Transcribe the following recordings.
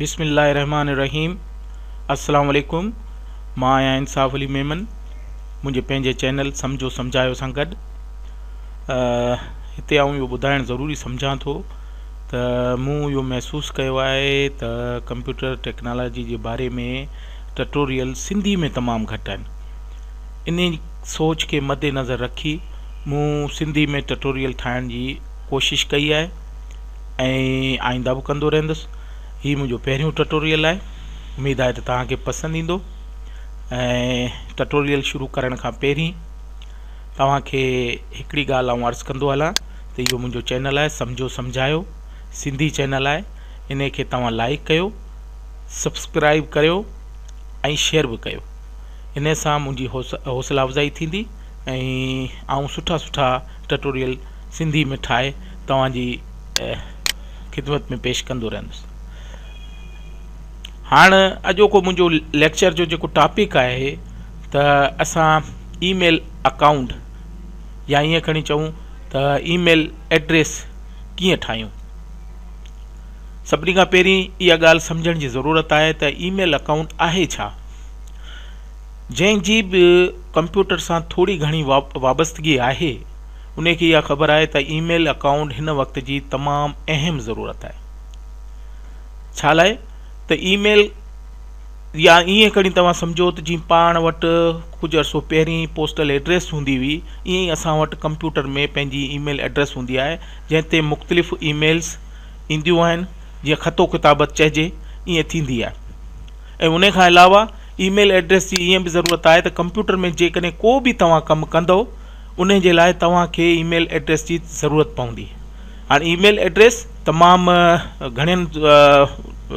بسم الله الرحمٰن الرحيم السلام عليڪم مان آهيان انصاف علي ميمن منهنجي پنهنجي چينل سمجهو سمجهايو سان گڏ هتي آئون اهو ٻڌائڻ ضروري سمجهان ٿو ته مون اهو محسوس ڪيو آهي ته ڪمپيوٽر ٽيڪنالاجي جي باري ۾ ٽٽوريل سنڌي ۾ تمام گهٽ آهن ان سوچ کي مد نظر رکي مون سنڌي ۾ ٽٽوريل ٺاهڻ جي ڪوشش ڪئي آهي آئنده به ڪندو رهندس هي منهنجو پهريون ٽٽوريل آهي اميد آهي ته توهان کي پسند ايندو ۽ ٽٽوريل شروع ڪرڻ کان پهرين توهان کي هڪڙي ڳالهه آئون عرض ڪندو هلان ته اهو منهنجو چينل آهي سمجهو سمجهايو سنڌي چينل آهي ان کي توهان لائڪ ڪيو سبسڪرائب ڪريو ۽ شيئر به ڪيو ان سان منهنجي حوصلا افزائي ٿيندي ۽ آئون سٺا سٺا ٽٽوريل سنڌي ۾ ٺاهي توهان جي خدمت ۾ پيش ڪندو رهندس هاڻ اڄوڪو منهنجو ليڪچر جو جيڪو ٽاپڪ آهي ته اسان اي ميل اڪائونٽ يا ائين کڻي چئون ته اي ميل ايڊريس ڪيئن ٺاهيون سڀني کان پهرين اها ڳالهه سمجهڻ جي ضرورت آهي ته اي ميل اڪائونٽ آهي ڇا جنهن جي به ڪمپيوٽر سان ٿوري گهڻي وابستگي آهي انهي کي اها خبر آهي ته اي ميل اڪائونٽ هن وقت جي تمام اهم ضرورت آهي ڇالاء ته اي ميل يا ائين کڻي توهان سمجهو ته جيئن پاڻ وٽ ڪجهه عرصو پهرين پوسٽل ايڊريس هوندي هئي ائين ئي اسان وٽ ڪمپيوٽر ۾ پنهنجي اي ميل ايڊريس هوندي آهي جنهن تي مختلف اي ميلز اينديون آهن جيئن خط و ڪتابت چئجي ائين ٿيندي آهي ۽ انهي کان علاوه اي ميل ايڊريس جي ائين به ضرورت آهي ته ڪمپيوٽر ۾ جيڪڏهن ڪو به توهان ڪم ڪندو انهي جي لاء توهان کي اي ميل ايڊريس جي ضرورت پوندي هاڻي اي ميل ايڊريس تمام گهڻين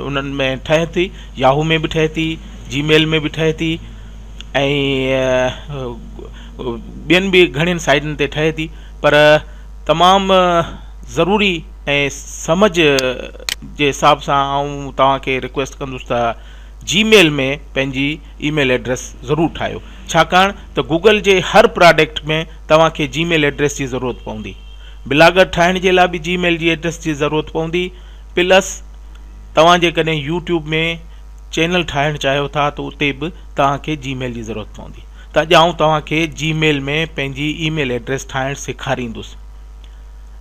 انهن ۾ ٺهي ٿي ياهو ۾ به ٺهي ٿي جي ميل ۾ به ٺهي ٿي ۽ ٻين به گهڻين سائيٽن تي ٺهي ٿي پر تمام ضروري ۽ سمجھ جي حساب سان آئون توهان کي رڪويسٽ ڪندس ته جي ميل ۾ پنهنجي اي ميل ايڊريس ضرور ٺاهيو ڇاڪاڻ ته گوگل جي هر پراڊڪٽ ۾ توهان کي جي ميل ايڊريس جي ضرورت پوندي. بلاگر ٺاهڻ جي لاء به جي ميل جي ايڊريس جي ضرورت پوندي پلس توهان جيڪڏهن يوٽيوب ۾ چينل ٺاهڻ چاهيو ٿا ته اتي به توهان کي جي ميل جي ضرورت پوندي ته اڄ آئون توهان کي جي ميل ۾ پنهنجي اي ميل ايڊريس ٺاهڻ سيکاريندس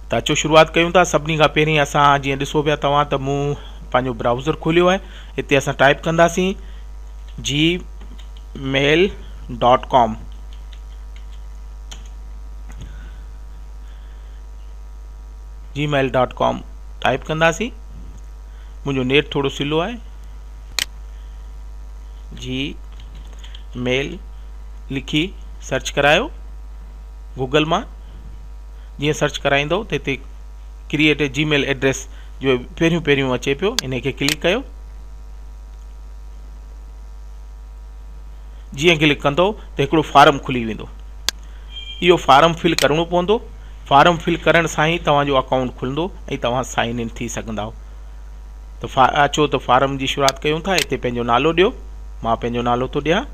ته اچو شروعات ڪيون ٿا سڀني کان پهرين اسان جيئن ڏسو پيا توهان ته مون پنهنجو برائوزر کوليو آهي هتي اسان ٽائپ ڪنداسين Gmail dot com Gmail dot com type ڪنداسين منهنجو نيٽ ٿورو سلو آهي جي ميل لکي سرچ ڪرايو گوگل مان جيئن سرچ ڪرائيندو ته هتي create a Gmail address جو پهريون پهريون اچي پيو ان کي ڪلڪ ڪيو جيئن ڪلڪ ڪندو ته هڪڙو فارم کلي ويندو اهو فارم فل ڪرڻو پوندو فارم فل ڪرڻ سان ئي توهان جو اڪائونٽ کلندو ۽ توهان سائن ان ٿي سگهندا ته فا اچو ته فارم جي شروعات ڪيون ٿا هتي پنهنجو نالو ڏيو مان پنهنجو نالو ٿو ڏيان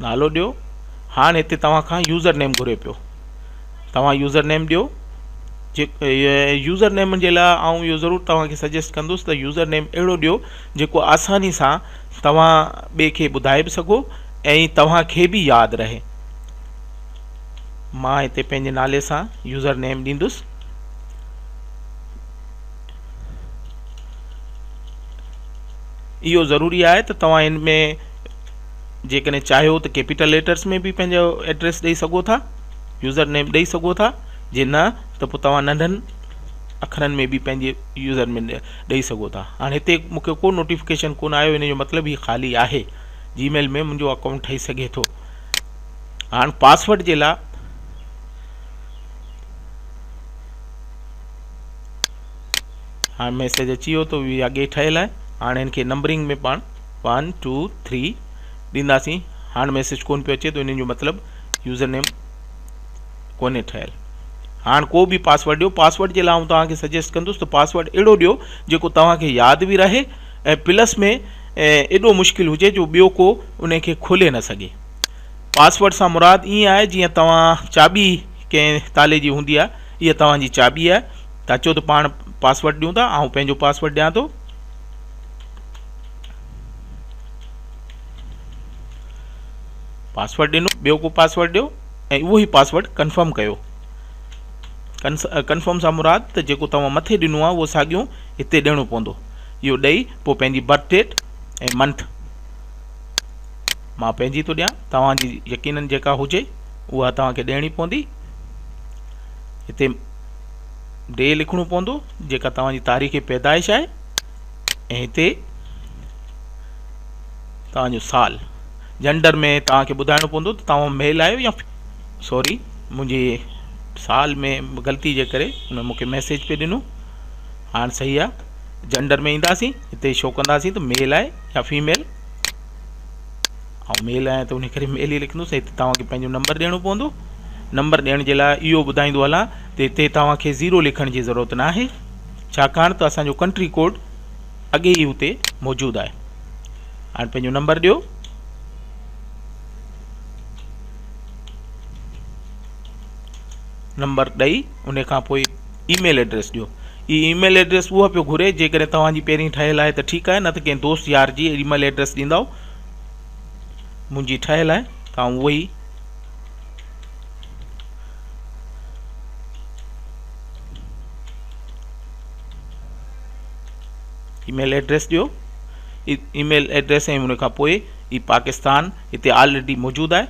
نالو ڏيو هاڻ هتي توهان کان يوزر نيم گهري پيو توهان يوزر نيم ڏيو يوزر نيم جي لاء آئون اهو ضرور توهان کي سجيسٽ ڪندس ته يوزر نيم اهڙو ڏيو جيڪو آساني سان توهان ٻئي کي ٻڌائي به سگهو ۽ توهان کي به ياد رهي مان هتي پنهنجي نالي سان يوزر نيم ڏيندس اهو ضروري آهي ته توهان ان ۾ جيڪڏهن چاهيو ته ڪيپيٽل ليٽرس ۾ به پنهنجو ايڊريس ڏئي سگهو ٿا يوزر نيم ڏئي سگهو ٿا جي نه ته پوء توهان ننڍن اکرن ۾ به پنهنجي يوزر نيم ڏئي سگهو ٿا هاڻي هتي مونکي ڪو نوٽيفڪيشن ڪون آيو ان جو مطلب هي خالي آهي جي ميل ۾ منهنجو اڪائونٽ ٺهي سگهي ٿو هاڻ پاسورڊ جي لاء هاڻ ميسيج اچي ويو تو هي اڳي ٺهيل آهي هاڻ هن کي نمبرنگ ۾ پاڻ ون ٽو ٿري ڏينداسين هاڻ ميسيج ڪون پيو اچي تو ان جو مطلب يوزر نيم ڪونهي ٺهيل هاڻ ڪو به پاسورڊ ڏيو پاسورڊ جي لاء آئون توهان کي سجيسٽ ڪندس ته پاسورڊ اهڙو ڏيو جيڪو توهان کي ياد به رهي ۽ پلس ۾ ايڏو مشڪل هجي جو ٻيو ڪو ان کي کولي نه سگهي پاسورڊ سان مراد ائين آهي جيئن توهان چاٻي ڪنهن تالي جي هوندي آهي اها توهان جي چاٻي آهي ته اچو ته پاڻ پاسورڊ ڏيون ٿا آئون پنهنجو پاسورڊ ڏيان ٿو پاسورڊ ڏنو ٻيو ڪو پاسورڊ ڏيو ۽ اهو ئي پاسورڊ ڪنفرم ڪيو ڪنفرم سان مراد ته جيڪو توهان مٿي ڏنو آهي اهو ساڳيو هتي ڏيڻو پوندو اهو ڏئي پوء پنهنجي برٿ ڊيٽ ۽ منٿ مان پنهنجي ٿو ڏيان توهان جي يقينن جيڪا هجي اها توهان کي ڏيڻي پوندي هتي ڊي لکڻو پوندو جيڪا توهان جي تاريخ پيدائش آهي ۽ هتي توهان جو سال جنڊر ۾ توهان کي ٻڌائڻو پوندو ته توهان ميل آهيو يا سوري منهنجي سال ۾ غلطي جي ڪري ان مونکي ميسيج پئي ڏنو هاڻ صحيح آهي جنڊر ۾ اينداسين هتي شو ڪنداسين ته ميل آهي يا فيميل آئون ميل آهيان ته ان ڪري ميل ئي لکندوس هتي توهان کي پنهنجو نمبر ڏيڻو پوندو نمبر ڏيڻ جي لاء اهو ٻڌائيندو هلان ته هتي توهان کي زيرو لکڻ جي ضرورت نه آهي ڇاڪاڻ ته اسان جو ڪنٽري ڪوڊ اڳي ئي هتي موجود آهي هاڻ پنهنجو نمبر ڏيو نمبر ڏئي ان کان پوء اي ميل ايڊريس ڏيو هي اي ميل ايڊريس اها پيو گهري جيڪڏهن توهان جي پهرين ٺهيل آهي ته ٺيڪ آهي نه ته ڪنهن دوست يار جي اي ميل ايڊريس ڏيندائو منهنجي ٺهيل آهي ته آئون اهي ئي اي ميل ايڊريس ڏيو اي ميل ايڊريس ۽ ان کان پوء هي پاڪستان هتي آلريڊي موجود آهي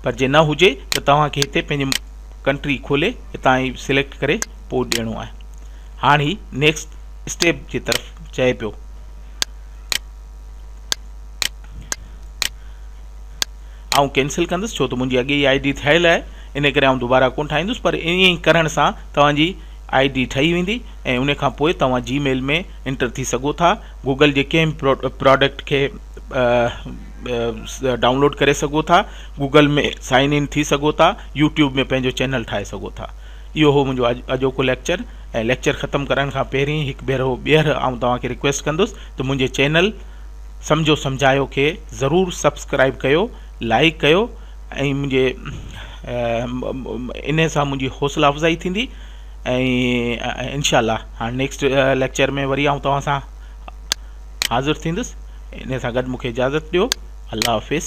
پر جي نه هجي ته توهان کي هتي پنهنجي ڪنٽري کولي هتان هي سليڪٽ ڪري پوء ڏيڻو آهي هاڻ هي نيڪسٽ اسٽيپ جي طرف چئي پيو آئون ڪينسل ڪندس ڇو ته منهنجي اڳي ئي آئي ڊي ٺهيل آهي ان ڪري آئون دوبارا ڪون ٺاهيندس پر ائين ئي ڪرڻ سان توهانجي آئي ڊي ٺهي ويندي ۽ ان کان پوء توهان جي ميل ۾ انٽر ٿي سگهو ٿا گوگل جي ڪنهن به پروڊڪٽ کي ڊائونلوڊ ڪري سگهو ٿا گوگل ۾ سائن ان ٿي سگهو ٿا يوٽيوب ۾ پنهنجو چينل ٺاهي سگهو ٿا اهو هو منهنجو اڄوڪو ليڪچر ۽ ليڪچر ختم ڪرڻ کان پهرين هڪ ڀيرو ٻيهر آئون توهان کي رڪويسٽ ڪندس ته منهنجي چينل سمجهو سمجهايو کي ضرور سبسڪرائيب ڪيو لائيڪ ڪيو ۽ منهنجي انهي سان منهنجي حوصلا افزائي ٿيندي ۽ انشاء الله هاڻي نيڪسٽ ليڪچر ۾ وري آئون توهان سان حاضر ٿيندس انهي سان گڏ مونکي اجازت ڏيو الله حافظ